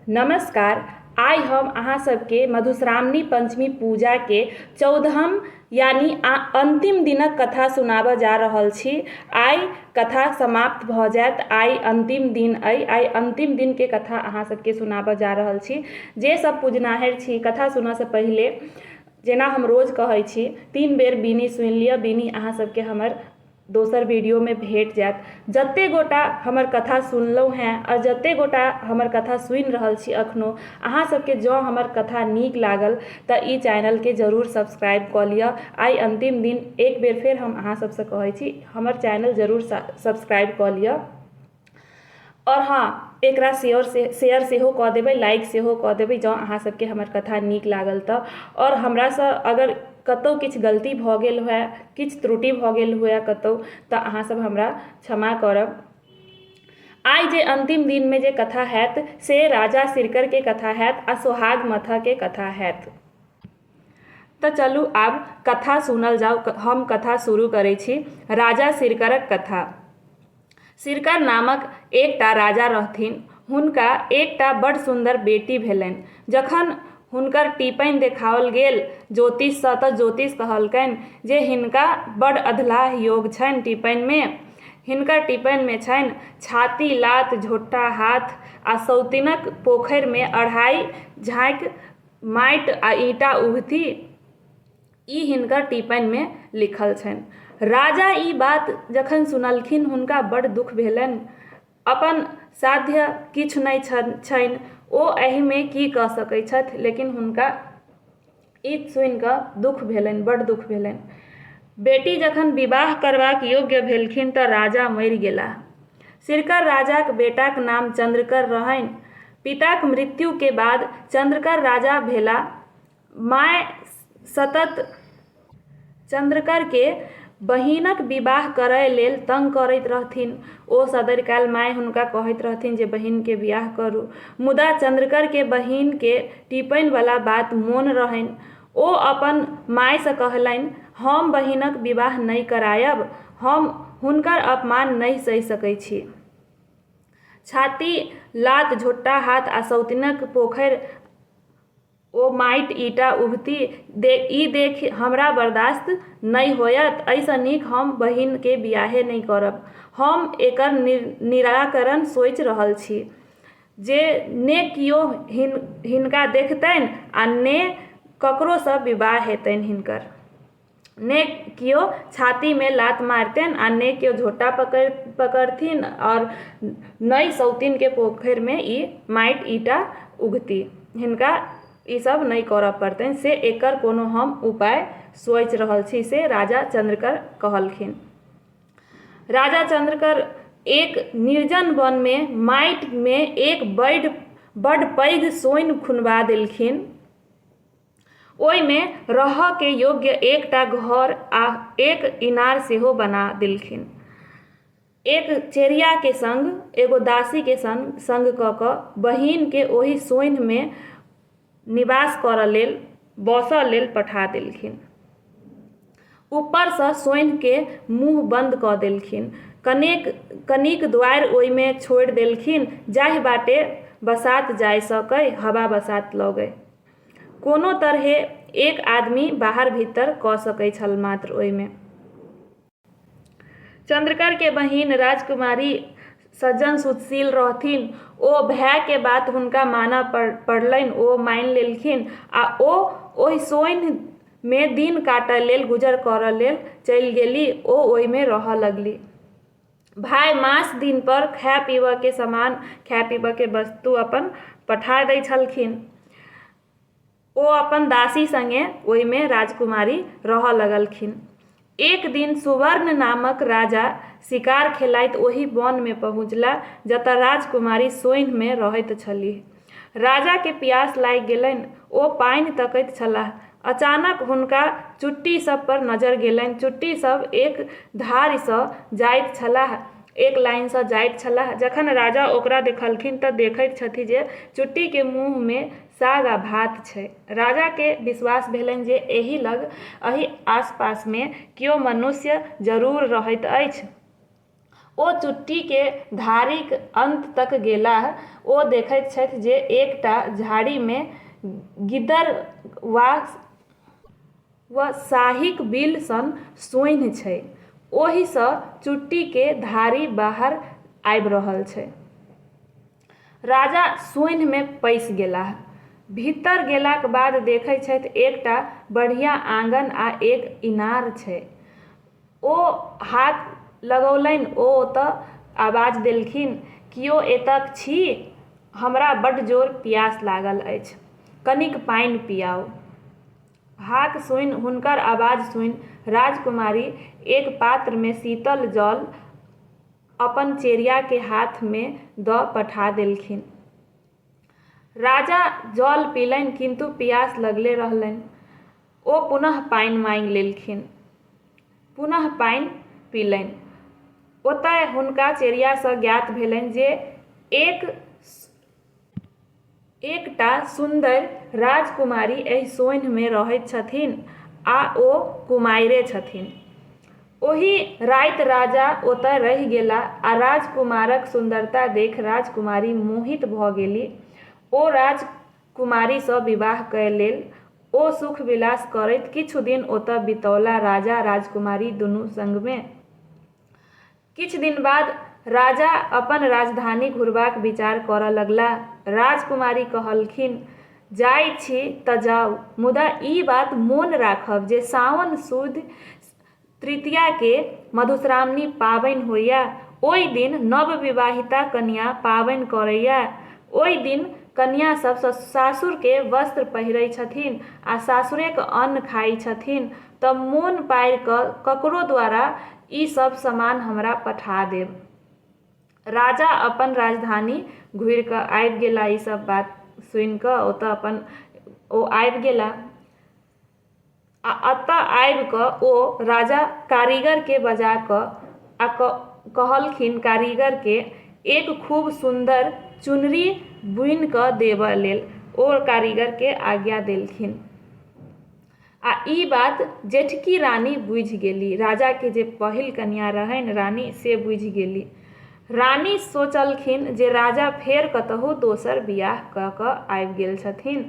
नमस्कार आइ हम अहाँ सबके मधुश्रावणी पञ्चमी पूजाके चौदहम यानि अन्तिम दिनक कथा सुनाबऽ जा रहल छी आइ कथा समाप्त भऽ जायत आइ अन्तिम दिन अइ आइ अन्तिम दिनके कथा अहाँ सबके सुनाबऽ जा रहल छी जे सब पुजनाहैर छी कथा सुनऽसँ पहिले जेना हम रोज कहै छी तीन बेर बीनी सुनि लिऽ बीनी अहाँ सबके हमर दोसर वीडियोमे भेट जायत जते गोटा हमर कथा सुनलहुँ हैं आ जते गोटा हमर कथा सुनि रहल छी अखनो अहाँ सबके जँ हमर कथा नीक लागल तऽ ई चैनलके जरूर सब्सक्राइब कऽ लिअ आइ अन्तिम दिन एक बेर फेर हम अहाँ सबसँ कहै छी हमर चैनल जरूर सब्सक्राइब कऽ लिअ आओर हँ एकरा शेयर सेहो कऽ देबै लाइक सेहो कऽ देबै जँ अहाँ सबके हमर कथा नीक लागल तऽ आओर हमरासँ अगर कतौ किछु गलती भऽ गेल हुए किछु त्रुटि भऽ गेल हुए कतौ तऽ अहाँ सब हमरा क्षमा करब आइ जे अन्तिम दिनमे जे कथा होयत से राजा सिरकरके कथा होयत आओर सोहाग मथाहके कथा होयत तऽ चलू आब कथा सुनल जाउ हम कथा शुरू करै छी राजा सिरकरक कथा सिरका नामक एकटा राजा रहथिन। हुनका एकटा बड़ सुन्दर बेटी भेलनि। जखन हुनकर टीपनि देखाओल गेल जोतिषसँ तँ जोतिष कहलकनि जे हिनका बड़ अधलाह योग छनि टीपनिमे। हिनकर टीपनिमे छनि छाती लात, झोंटा हाथ आ सौतिनक पोखरिमे अढ़ाइ झाँकि माटि आ ईंटा उघथि। ई हिनकर टीपैनमे लिखल छनि। राजा ई बात जखन सुनलखिन हुनका बड़ दुख भेलनि। अपन साध्य किछु नहि छनि। ओ एहिमे की कऽ सकै छथि। लेकिन हुनका ई सुनि कऽ दुख भेलनि, बड़ दुख भेलनि। बेटी जखन विवाह करबाक योग्य भेलखिन तँ राजा मरि गेलाह। सिरकर राजाक बेटाक नाम चन्द्रकर रहनि। पिताक मृत्युके बाद चन्द्रकर राजा भेलाह। माय सतत चन्द्रकरकेँ बहिनक विवाह करय लेल तंग करैत रहथिन। ओ सदरि काल माय हुनका कहैत रहथिन जे बहिनकेँ विआह करू। मुदा चन्द्रकरकेँ बहिनकेँ टीपनि बला बात मोन रहनि। ओ अपन मायसँ कहलनि, हम बहिनक विवाह नहि करायब। हम हुनकर अपमान नहि सहि सकै छी। छाती लात झोंटा हाथ आ सौतिनक पोखरि ओ माटि ईटा उघती ई देखि हमरा बरदास्त नहि होयत। एहिसँ नीक हम बहिनकेँ बिआहे नहि करब। हम एकर निराकरण सोचि रहल छी जे ने कियो हिनका देखतनि आ ने ककरोसँ विवाह हेतनि हिनकर। ने केओ छातीमे लात मारतनि आओर ने केओ झोटा पकड़ि पकड़थिन आओर ने सौतीनके पोखरिमे ई माटि ईटा उघती हिनका ई सब नहि करऽ पड़तनि से एकर कोनो हम उपाय सोचि रहल छी से राजा चन्द्रकर कहलखिन राजा चन्द्रकर एक निर्जन वनमे माटिमे एक बड्ड बड्ड पैघ सोनि खुनबा देलखिन ओइमे रहअ के योग्य एकटा घर आ एक इनार सेहो बना देलखिन। एक चेरिया के संग एगो दासी के संग क क बहिन के ओहि सोन्ह मे निबास करअ लेल, बसअ लेल पठा देलखिन। ऊपर सँ सोन्ह के मुँह बंद क देलखिन। कनेक कनिक द्वारि ओइमे छोड़ि देलखिन जाहि बाटे बसात जाय सकय, हवा-बसात लगय। कोनो तरहें एक आदमी बाहर-भीतर कऽ सकैत छल मात्र ओहिमे। चन्द्रकर के बहिन राजकुमारी सज्जन सुतशील रहथिन। ओ भाय के बात हुनका मानऽ पड़लनि। ओ मानि लेलखिन आ ओ ओहि सोन्हि मे दिन काटऽ लेल, गुजर करऽ लेल चलि गेलीह। ओ ओहि मे रहऽ लगलीह। भाय मास दिनपर खाय पीबयके सामान खाय पीबयके वस्तु अपन पठा दैत छलखिन ओ अपन दासी सङ्गे ओहिमे राजकुमारी रहय लगलखिन एक दिन सुवर्ण नामक राजा शिकार खेलाइत ओहि वनमे पहुँचला जतय राजकुमारी सोन्हिमे रहैत छलीह राजाकेँ पियास लागि गेलनि। ओ पानि तकैत छलाह। अचानक हुनका चुट्टी सभ पर नजर गेलनि। चुट्टी सभ एक धारिसँ जाइत छलाह, एक लाइनसँ जाइत छलाह। जखन राजा ओकरा देखलखिन तँ देखैत छथि जे चुट्टीकेँ मुँहमे साग आ भात छै। राजाकेँ विश्वास भेलनि जे एहि लग, एहि आसपासमे कियो मनुष्य जरूर रहैत अछि। ओ चुट्टीके धारीक अन्त तक गेलाह। ओ देखैत छथि जे एकटा झाड़ीमे गिदर वा साहीक बिल सन सोन्हि छै। ओहिसँ चुट्टीके धारी बाहर आबि रहल छै। राजा सोन्हिमे पैसि गेलाह। भीतर गेलाक बाद देखैत छथि एकटा बढ़िया आँगन आ एक इनार छै। ओ हाथ लगौलनि ओ ओतए आवाज देलखिन, कियो एतएक छी? हमरा बड्ड जोर पियास लागल अछि। कनिक पानि पियाउ। हाक सुनि, हुनकर आवाज सुनि राजकुमारी एक पात्रमे शीतल जल अपन चेरिया के हाथ मे द पठा देलखिन। राजा जल पीलनि किन्तु पियास लगले रहलनि। ओ पुनः पानि मांगि लेलखिन। पुनः पानि पीलनि। ओतय हुनका चेरिया सँ ज्ञात भेलनि जे एक एकटा सुन्दर राजकुमारी एहि सोन्हिमे रहैत छथिन आ ओ कुमारिए छथिन ओहि राति राजा ओतऽ रहि गेला आ राजकुमारक सुन्दरता देख राजकुमारी मोहित भऽ गेलि ओ राजकुमारीसँ विवाह कए लेल ओ सुख विलास करैत किछु दिन ओतऽ बितौला राजा राजकुमारी दुनू संगमे किछु दिन बाद राजा अपन राजधानी घुरबाक विचार करऽ लगलाह। राजकुमारी कहलखिन, जाइ छी तँ जाउ, मुदा ई बात मोन राखब जे साओन सुद तृतीयाकेँ मधुश्रावणी पाबनि होइए। ओइ दिन नवविवाहिता कनियाँ पाबनि करैए। ओइ दिन कनियाँ सभ सासुरकेँ वस्त्र पहिरै छथिन आ सासुरेक अन्न खाइ छथिन। तऽ मोन पाड़ि कऽ ककरो द्वारा ई सभ समान हमरा पठा देब। राजा अपन राजधानी घुरि कऽ आबि गेला ई सभ बात सुनि कऽ ओतऽ अपन ओ आबि गेला आ अतऽ आबि कऽ ओ राजा कारीगर के बजा कऽ आ कहलखिन कारीगर के एक खूब सुन्दर चुनरी बुनि कऽ देबऽ लेल ओ कारीगर के आज्ञा देलखिन। आ ई बात जेठकी रानी बुझि गेली। राजा के जे पहिल कनिया रहनि रानी से बुझि गेली। रानी सोचलखिन जे राजा फेर कतहु दोसर बिआह क क आबि गेल छथिन।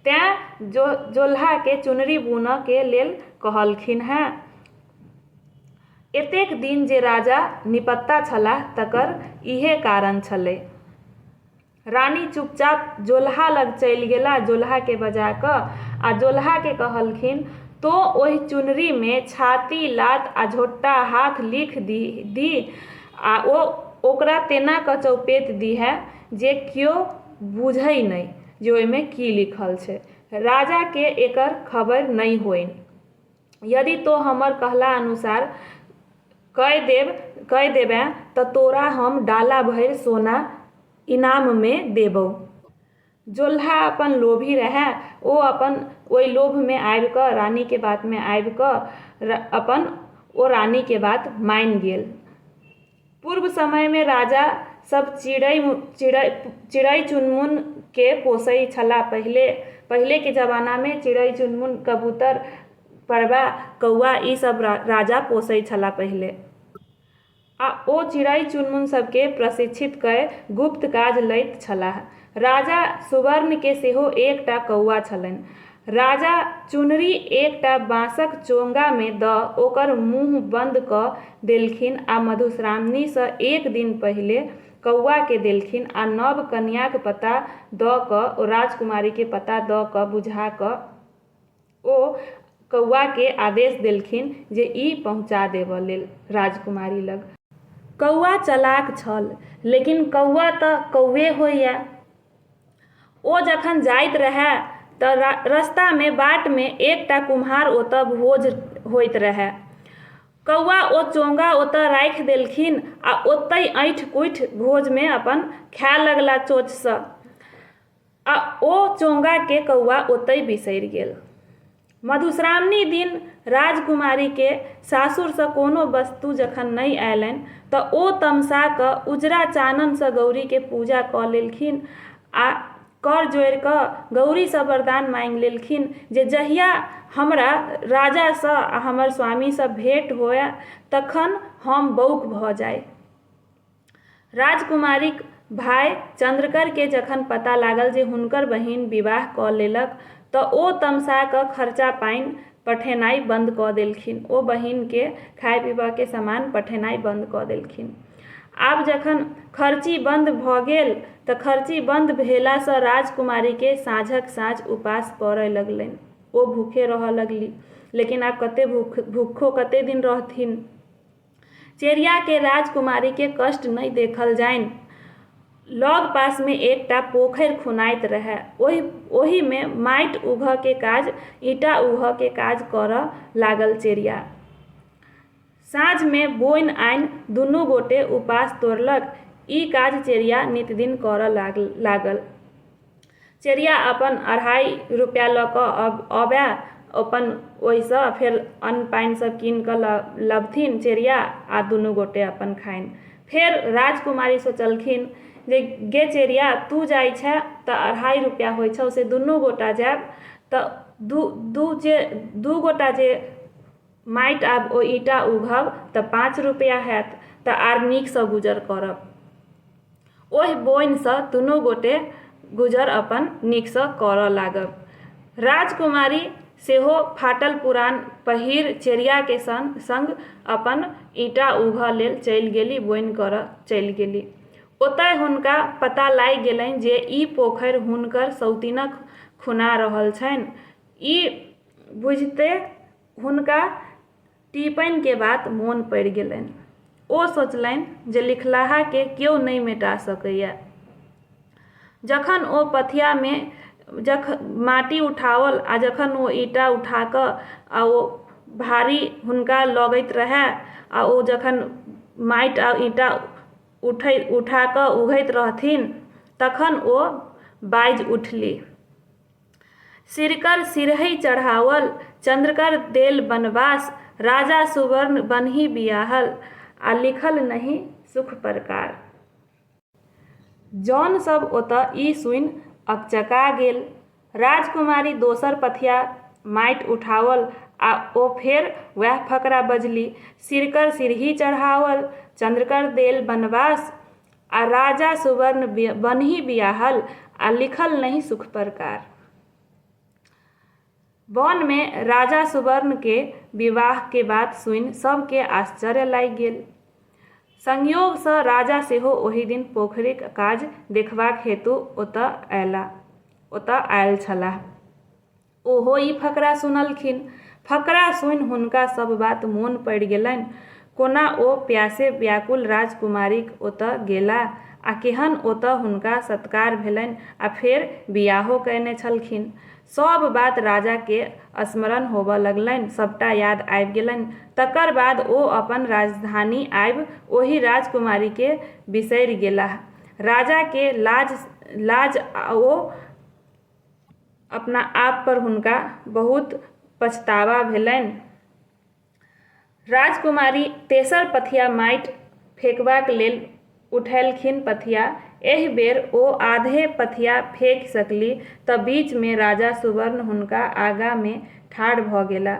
तैं जोलहा के चुनरी बुनऽ के लेल कहलखिन हें। एतेक दिन जे राजा निपत्ता छलाह तकर इहे कारण छलै। रानी चुपचाप जोलहा लग चलि गेला जोलहाके बजा कऽ आ जोलहाके कहलखिन तो ओहि चुनरीमे छाती लात आ झोट्टा हाथ लिख दी आ ओ ओकरा तेना कऽ चौपेत दीहै जे क्यो बुझै नहि जे ओहिमे की लिखल छै राजाके एकर खबरि नहि होइन्ह। यदि तो हमर कहला अनुसार कय देबें त तोरा हम डाला भरि सोना इनाममे देबौ। जोल्हा अपन लोभी रहए। ओ अपन ओइ लोभमे आबि कऽ रानीके बातमे आबि कऽ अपन ओ रानीके बात मानि गेल। पूर्व समय में राजा सब चिड़ै चिड़ै चिड़ै चुनमुन के पोसै छला पहिले पहिले के जमाना में चिड़ै चुनमुन कबूतर परबा कौआ ई सब राजा पोसै छला पहिले आ ओ चिड़ै चुनमुन सब के प्रशिक्षित कय गुप्त काज लैत छलाह राजा सुवर्णकेँ सेहो एक टा कौआ छलनि। राजा चुनरी एक टा बाँसक चोंगामे दऽ ओकर मुँह बन्द कऽ देलखिन आ मधुश्रामनीसँ एक दिन पहिले कौआकेँ देलखिन आ नव कनियाँक पता दऽ कऽ ओ राजकुमारीकेँ पता दऽ कऽ बुझा कऽ ओ कौआकेँ आदेश देलखिन जे ई पहुँचा देबऽ लेल राजकुमारी लग। कौआ चलाक छल, लेकिन कौआ तँ कौए होइए। ओ जखन जाइत रहए तँ रस्तामे, बाटमे एकटा कुम्हार ओतए भोज होइत रहए। कौआ ओ चोंगा ओतए राखि देलखिन आ ओतहि अँठि-कुँठि भोजमे अपन खाए लगला चोंचसँ। आ ओ चोंगाके कौआ ओतहि बिसरि गेल। मधुश्रावणी दिन राजकुमारीके सासुरसँ कोनो वस्तु जखन नहि अयलनि तँ ओ तमसा कऽ उजरा चाननसँ गौरीके पूजा कऽ लेलखिन आ कर जोड़ि कऽ गौरीसँ वरदान माँगि लेलखिन जे जहिया हमरा राजासँ आ हमर स्वामीसँ भेंट होअए तखन हम बौक भऽ जाइ। राजकुमारीक भाय चन्द्रकर केँ जखन पता लागल जे हुनकर बहिन विवाह कऽ लेलक तऽ ओ तमसा कऽ खर्चा पानि पठेनाइ बन्द कऽ देलखिन। ओ बहिन केँ खाय पीबऽ के समान पठेनाइ बन्द कऽ देलखिन। आब जखन खर्ची बन्द भऽ गेल तऽ खर्ची बन्द भेला सँ राजकुमारी केँ साँझक साँझ उपास पड़य लगलनि। ओ भूखे रहऽ लगली। लेकिन आब कते भूखो कते दिन रहथिन। चेरियाके राजकुमारीके कष्ट नहि देखल जाइन। लगपासमे एकटा पोखरि खुनाइत रहए। ओहि ओहिमे माटि उघऽके काज, ईंटा उघऽके काज करऽ लागल चेरिया। साँझमे बोनि आनि दुनू गोटे उपास तोड़लक। ई काज चेरिया नितदिन करऽ लागल। चेरिया अपन अढ़ाइ रुपैआ लऽ कऽ अबै अपन ओहिसँ फेर अन्न पानि सब कीन कऽ लबथिन चेरिया आ दुनू गोटे अपन खाइन फेर राजकुमारी सोचलखिन जे गे चेरिया तू जाइ छे तऽ अढ़ाइ रुपैआ होइ छौ से दुनू गोटा जायब तऽ दू दू जे दू गोटा जे माटि आब ओ ईंटा उघब तऽ पाँच रुपैआ हैत तऽ आओर नीकसँ गुजर करब ओहि बोनिसँ दुनू गोटे गुजर अपन नीकसँ करऽ लागल राजकुमारी सेहो फाटल पुरान पहिर चेरियाके सङ्ग सङ्ग अपन ईंटा उघऽ लेल चलि गेली बोनि करऽ चलि गेली ओतय हुनका पता लागि गेलनि जे ई पोखरि हुनकर सौतिनक खुना रहल छनि ई बुझिते हुनका टीपैनके बात मोन पड़ि गेलैन। ओ सोचलैन जे लिखलाहाकेँ केओ नै मेटा सकैए। जखन ओ पथियामे जख माटि उठाओल आ जखन ओ ईटा उठा कऽ आ ओ भारी हुनका लगैत रहए आ ओ जखन माटि आ ईटा उठै उठा कऽ उघैत रहथिन तखन ओ बाजि उठली। सिरकर सिरहै चढ़ाओल, चन्द्रकर देल बनबास, राजा सुवर्ण बन्हि बियाहल आ लिखल नहि सुख परकार। जौन सब ओतऽ ई सुनि अकचका गेल। राजकुमारी दोसर पथिया माटि उठाओल आ ओ फेर वैह फकरा बजली, सिरकर सिरहि चढ़ाओल, चन्द्रकर देल बनबास, आ राजा सुवर्ण बनही बियाहल आ लिखल नहीं सुख प्रकार। वन मे राजा सुवर्ण के विवाह के बात सुनि सभ के आश्चर्य लागि गेल। संयोग सँ राजा सेहो ओहि दिन पोखरिक काज देखबाक हेतु ओतय आयल छलाह। ओहो ई फकरा सुनलखिन। फकरा सुनि हुनका सभ बात मोन पड़ि गेलनि। कोना ओ प्यासे व्याकुल राजकुमारीक ओतए गेला आ केहन ओतए हुनका सत्कार भेलनि आ फेर वियाहो कएने छलखिन। सभ बात राजा केँ स्मरण होबए लगलनि। सभटा याद आबि गेलनि। तकर बाद ओ अपन राजधानी आबि ओहि राजकुमारी केँ बिसरि गेलाह। राजा केँ लाज लाज ओ अपना आप पर हुनका बहुत पछतावा भेलनि राजकुमारी तेसर पथिया माटि फेकबाक लेल उठेलखिन पथिया एहि बेर ओ आधे पथिया फेकि सकली तऽ बीच मे राजा सुवर्ण हुनका आगा मे ठाढ़ भऽ गेला।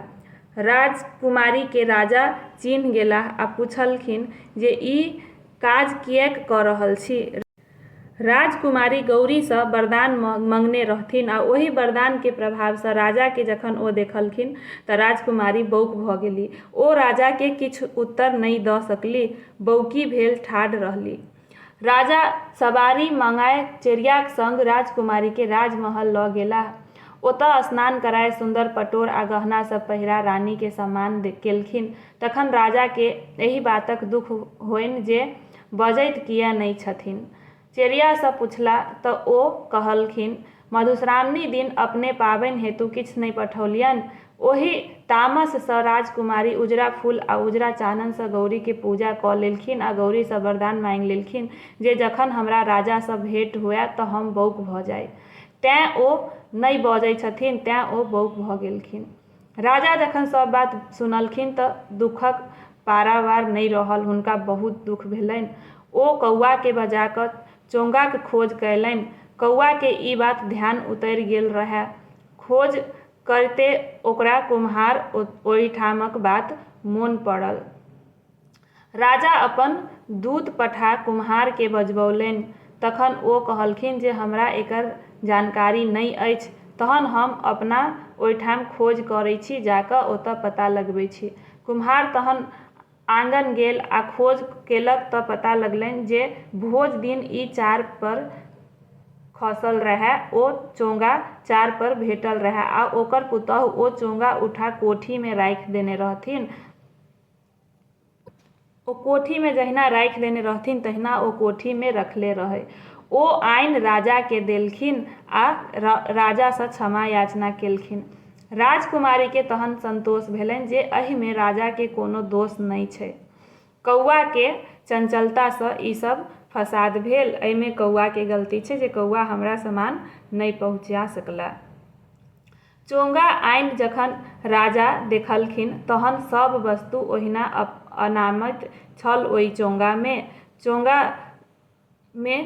राजकुमारी के राजा चीन्ह गेलाह आ पुछलखिन जे ई काज किएक कऽ रहल छी? राजकुमारी गौरीसँ वरदान मँगने रहथिन आ ओहि वरदानके प्रभावसँ राजाकेँ जखन ओ देखलखिन तँ राजकुमारी बौक भऽ गेलीह। ओ राजाकेँ किछु उत्तर नहि दऽ सकलीह। बौकी भेल ठाढ़ रहलीह। राजा सवारी मँगाए चेरियाक संग राजकुमारीकेँ राजमहल लऽ गेलाह। ओतए स्नान कराए सुन्दर पटोर आ गहना सभ पहिरा रानीकेँ सम्मान केलखिन। तखन राजाकेँ एहि बातक दुख होएन जे बजैत किए नहि छथिन? चेरियासँ पुछला तँ ओ कहलखिन, मधुश्रावणी दिन अपने पाबनि हेतु किछु नहि पठौलियनि। ओहि तामससँ राजकुमारी उजरा फूल आ उजरा चाननसँ गौरीकेँ पूजा कऽ लेलखिन आ गौरीसँ वरदान माँगि लेलखिन जे जखन हमरा राजासँ भेंट हुअए तँ हम बौक भऽ जाइ। तेँ ओ नहि बजै छथिन। तेँ ओ बौक भऽ गेलखिन। राजा जखन सब बात सुनलखिन तऽ दुखक पारावार नहि रहल। हुनका बहुत दुख भेलनि। ओ कौआकेँ बजा कऽ चोंगाक खोज कएलनि। कौआकेँ ई बात ध्यान उतरि गेल रहए। खोज करिते ओकरा कुम्हार ओहिठामक बात मोन पड़ल। राजा अपन दूत पठा कुम्हारकेँ बजबौलनि। तखन ओ कहलखिन जे हमरा एकर जानकारी नहि अछि। तहन हम अपना ओहिठाम खोज करैत छी। जा कऽ ओतय पता लगबैत छी। कुम्हार तहन आँगन गेल आ खोज केलक तँ पता लगलनि जे भोज दिन ई चार पर खसल रहए ओ चोंगा चार पर भेटल रहए आ ओकर पुतहु ओ चोंगा उठा कोठीमे राखि देने रहथिन। ओ कोठीमे जहिना राखि देने रहथिन तहिना ओ कोठीमे रखले रहै। ओ आनि राजाकेँ देलखिन आ राजासँ क्षमा याचना केलखिन। राजकुमारीकेँ तहन संतोष भेलनि जे एहिमे राजाकेँ कोनो दोष नहि छै। कौआकेँ चंचलतासँ ई सभ फसाद भेल। एहिमे कौआकेँ गलती छै जे कौआ हमरा सामान नहि पहुँचा सकला। चोंगा आनि जखन राजा देखलखिन तहन सभ वस्तु ओहिना अनामैत छल ओइ चोंगा मे। चोंगा मे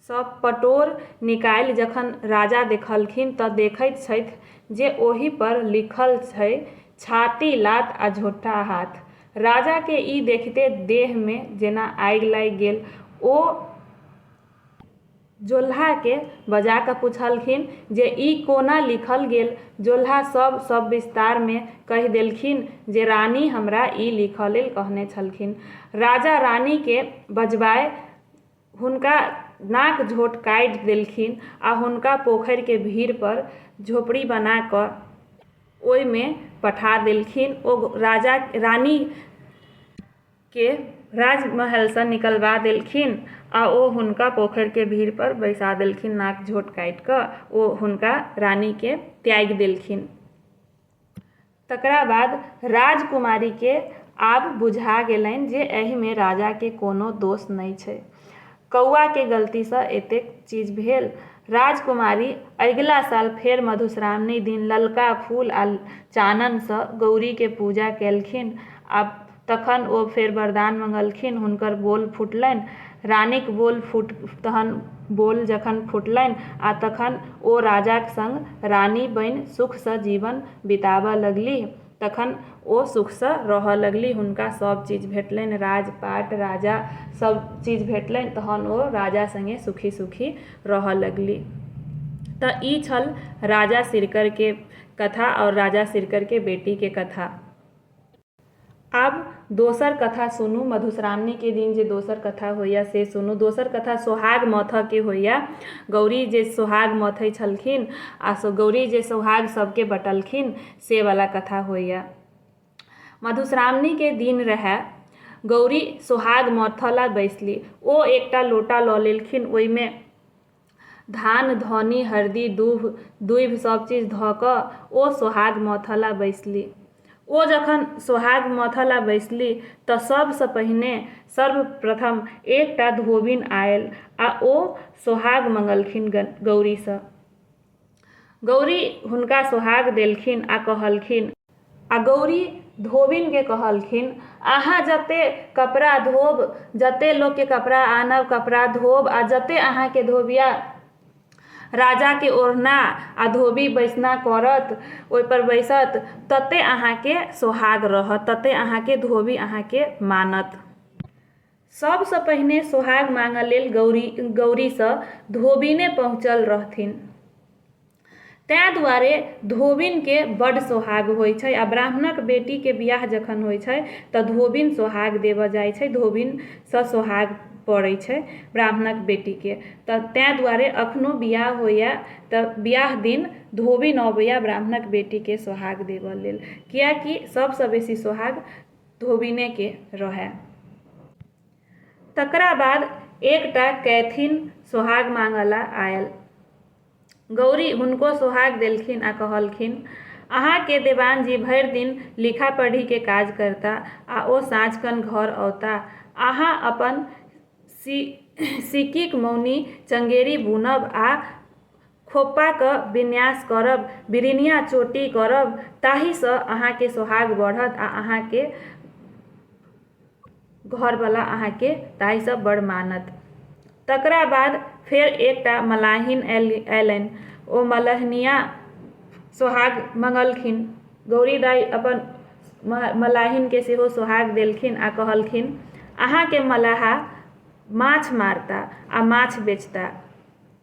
सँ पटोर निकालि जखन राजा देखलखिन तँ देखैत छथि जे ओहि पर लिखल छै छाती लात आ झोंटा हाथ। राजा के ई देखिते देह मे जेना आगि लागि गेल। ओ जोल्हाकेँ बजा कऽ पुछलखिन जे ई कोना लिखल गेल। जोल्हा सभ सविस्तारमे कहि देलखिन जे रानी हमरा ई लिखऽ लेल कहने छलखिन। राजा रानीकेँ बजबाए हुनका नाक-झोंट काटि देलखिन आ हुनका पोखरिक भीड़पर झोपड़ी बना कऽ ओइमे पठा देलखिन। ओ राजा-रानी। के राजमहलसँ निकलबा देलखिन आ ओ हुनका पोखरिके भीड़पर बैसा देलखिन नाक झोँट काटि कऽ ओ हुनका रानीकेँ त्यागि देलखिन तकरा बाद राजकुमारीके आब बुझा गेलनि जे एहिमे राजाके कोनो दोष नहि छै कौआके गलतीसँ एतेक चीज भेल राजकुमारी अगिला साल फेर मधुश्रावणी दिन ललका फूल आ चाननसँ गौरीके पूजा केलखिन आ तखन ओ फेर वरदान मंगलखिन। हुनकर बोल फुटलैन। रानीक बोल फुट तहन बोल जखन फुटलैन आ तखन ओ राजाक संग रानी बैन सुख सँ जीवन बिताबऽ लगलीह। तखन ओ सुख सँ रहऽ लगलीह। हुनका सब चीज भेटलैन। राज पाट, राजा सब चीज भेटलैन। तहन ओ राजा संगे सुखी सुखी रहऽ लगलीह। तऽ ई छल राजा सिरकर के कथा और राजा सिरकर के बेटी के कथा। आब दोसर कथा सुनू मधुश्रावणीके दिन जे दोसर कथा होइए से सुनू दोसर कथा सोहाग मथऽके होइए गौरी जे सोहाग मथै छलखिन आओर गौरी जे सोहाग सबके बँटलखिन से वला कथा होइए मधुश्रावणीके दिन रहै गौरी सोहाग मथऽलए बैसली ओ एकटा लोटा लऽ लेलखिन ओहिमे धान धौनी हरदी दूभ दूभि सब चीज धऽ कऽ ओ सोहाग मथऽ लए बैसली ओ जखन सोहाग मथऽ लए बैसली तऽ सबसँ पहिने सर्वप्रथम एकटा धोबिन आयल आओर ओ सोहाग मङ्गलखिन गौरीसँ गौरी हुनका सोहाग देलखिन आ कहलखिन। आ गौरी धोबिन केँ कहलखिन, अहाँ जते कपड़ा धोब, जते लोक केँ कपड़ा आनब, कपड़ा धोब आ जते अहाँ केँ धोबिया राजा केँ ओढ़ना आ धोबी बैसना करत, ओहि पर बैसत, तते अहाँ केँ सोहाग रहत, तते अहाँ केँ धोबी अहाँ केँ मानत। सभसँ पहिने सोहाग माँगऽ लेल गौरी गौरीसँ धोबिने पहुँचल रहथिन तैँ दुआरे धोबिनके बड सोहाग होइ छै आ ब्राह्मणक बेटीके बियाह जखन होइ छै तऽ धोबिन सोहाग देबऽ जाइ छै धोबिनसँ सोहाग पड़ै छै ब्राह्मणक बेटीके तऽ तैँ दुआरे अखनो बियाह होइए तऽ बियाह दिन धोबिन अबैए ब्राह्मणक बेटीके सोहाग देबऽ लेल किएकि सभसँ बेसी सोहाग धोबिनेके रहए। तकरा बाद एकटा कैथिन सोहाग माँगऽला आएल। गौरी हुनको सोहाग देलखिन आ कहलखिन, अहाँके देवानजी भरि दिन लिखा-पढ़ीके काज करता आ ओ साँझखन घर औता। अहाँ अपन सिक्कीक मौनी चंगेरी बुनब आ खोप्पा क विन्यास करब, बिरिनिया चोटी करब ताहि स अहाँ के सोहाग बढ़त आ अहाँ के घर बला अहाँ के ताहि स बड़ मानत। तकरा बाद फेर एकटा मलाहिन अयलनि। ओ मलहनिया सोहाग मंगलखिन। गौरी दाइ अपन मलाहिन के सेहो सोहाग देलखिन आ कहलखिन, अहाँ के मलाहा माछ मारता आ माछ बेचता।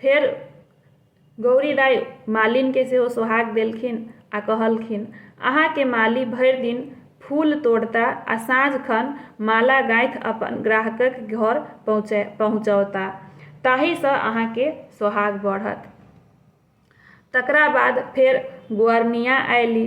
फेर गौरी दाइ मालिनके सेहो सोहाग देलखिन आ कहलखिन अहाँके माली भरि दिन फूल तोड़ता आ साँझ खन माला गाँथि अपन ग्राहकक घर पहुँचौता। ताहिसँ अहाँके सोहाग बढ़त। तकरा बाद फेर गोअरनियाँ अयली।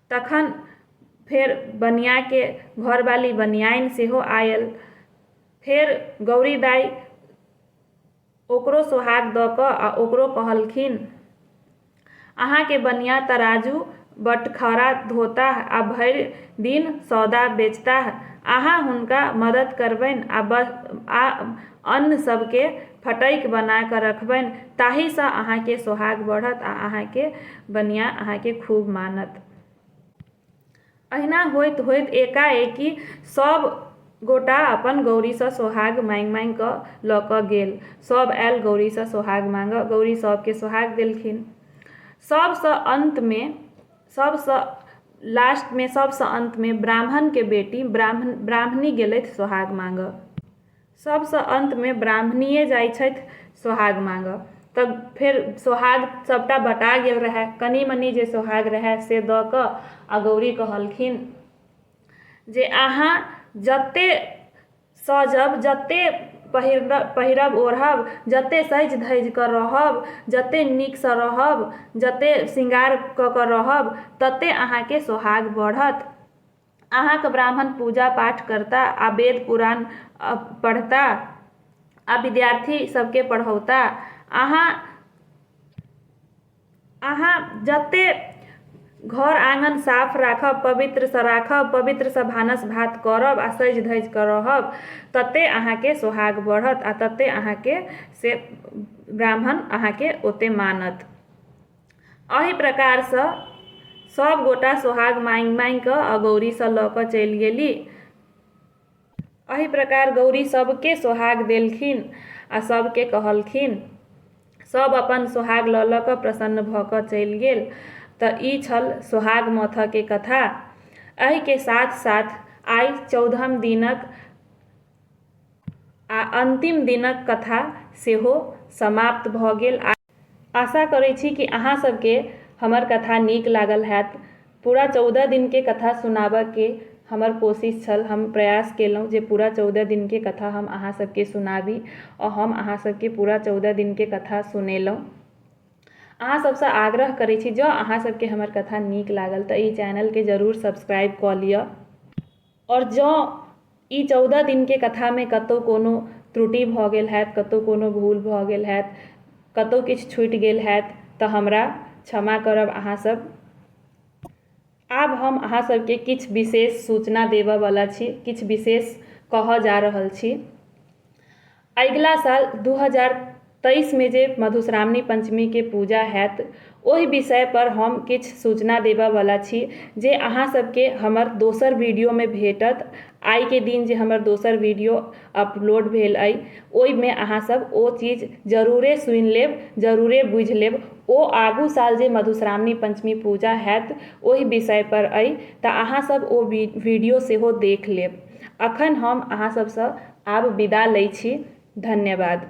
तखन फेर बनियाके घरवाली बनियाइन सेहो आयल फेर गौरी दाइ ओकरो सोहाग दऽ कऽ आ ओकरो कहलखिन अहाँके बनिया तराजू बटखरा धोताह आ भरि दिन सौदा बेचताह। अहाँ हुनका मदद करबनि आ अन्न सभके फटकि बना कऽ रखबनि ताहिसँ अहाँके सोहाग बढ़त आ अहाँके बनिया अहाँके खूब मानत अहिना होइत होइत एकाएकि सभ गोटा अपन गौरीसँ सोहाग माँगि माँगि कऽ लऽ कऽ गेल सभ आयल गौरीसँ सोहाग माँगऽ गौरी सभके सोहाग देलखिन सभसँ अन्तमे सभसँ लास्टमे सभसँ अन्तमे ब्राह्मणके बेटी ब्राह्मण ब्राह्मणी गेलथि सोहाग माँगऽ सभसँ अन्तमे ब्राह्मणिये जाइत छथि सोहाग माँगऽ तऽ फेर सोहाग सभटा बँटा गेल रहै कनि मनि जे सोहाग रहै से दऽ कऽ आ गौरी कहलखिन जे अहाँ जते सजब जते पहिर पहिरब ओढ़ब जते सजि धजि कऽ रहब जते नीकसँ रहब जते शृंगार कऽ कऽ रहब तते अहाँके सोहाग बढ़त अहाँक ब्राह्मण पूजा-पाठ करता आ वेद-पुराण पढ़ता आ विद्यार्थी सभकेँ पढ़ौता। अहाँ, अहाँ जते घर-आँगन साफ राखब, पवित्र सँ राखब, पवित्र सँ भानस-भात करब आ सजि-धजि कऽ रहब, तते अहाँकेँ सोहाग बढ़त आ तते अहाँकेँ से ब्राह्मण अहाँकेँ ओते मानत। एहि प्रकारसँ सभ गोटा सोहाग माँगि माँगि कऽ आ गौरीसँ लऽ कऽ चलि गेली एहि प्रकार गौरी सभकेँ सोहाग देलखिन आ सभकेँ कहलखिन सभ अपन सोहाग लऽ लऽ कऽ प्रसन्न भऽ कऽ चलि गेल तऽ ई छल सोहाग माथके कथा एहिके साथ साथ आइ चौदहम दिनक आ अन्तिम दिनक कथा सेहो समाप्त भऽ गेल आ आशा करै छी कि अहाँ सबके हमर कथा नीक लागल होयत पूरा चौदह दिन के कथा सुनाबऽ के हमर कोशिश छल हम प्रयास केलहुॅं जे पूरा चौदह दिन के कथा हम अहाँ सबके सुनाबी आ हम अहाँ सबके पूरा चौदह दिन के कथा सुनेलहुॅं अहाँ सबसँ आग्रह करै छी जँ अहाँ सबके हमर कथा नीक लागल तऽ ई चैनल के जरूर सब्सक्राइब कऽ लिअ आओर जँ ई चौदह दिनके कथामे कतहु कोनो त्रुटि भऽ गेल होयत कतहु कोनो भूल भऽ गेल होयत कतहु किछु छुटि गेल होयत तऽ हमरा क्षमा करब अहाँ सभ आब हम अहाँ सभकेँ किछु विशेष सूचना देबऽ बला छी किछु विशेष कहऽ जा रहल छी अगिला साल दू हजार तेइसमे जे मधुश्रावणी पञ्चमीके पूजा हैत ओहि विषयपर हम किछु सूचना देबऽवला छी जे अहाँ सबके हमर दोसर वीडियोमे भेटत आइके दिन जे हमर दोसर वीडियो अपलोड भेल अइ ओइमे अहाँ सब ओ चीज जरूरे सुनि लेब जरूरे बुझि लेब ओ आगू साल जे मधुश्रावणी पञ्चमी पूजा हैत ओहि विषयपर अइ तऽ अहाँ सब ओ वीडियो सेहो देख लेब अखन हम अहाँ सबसँ आब विदा लै छी धन्यवाद।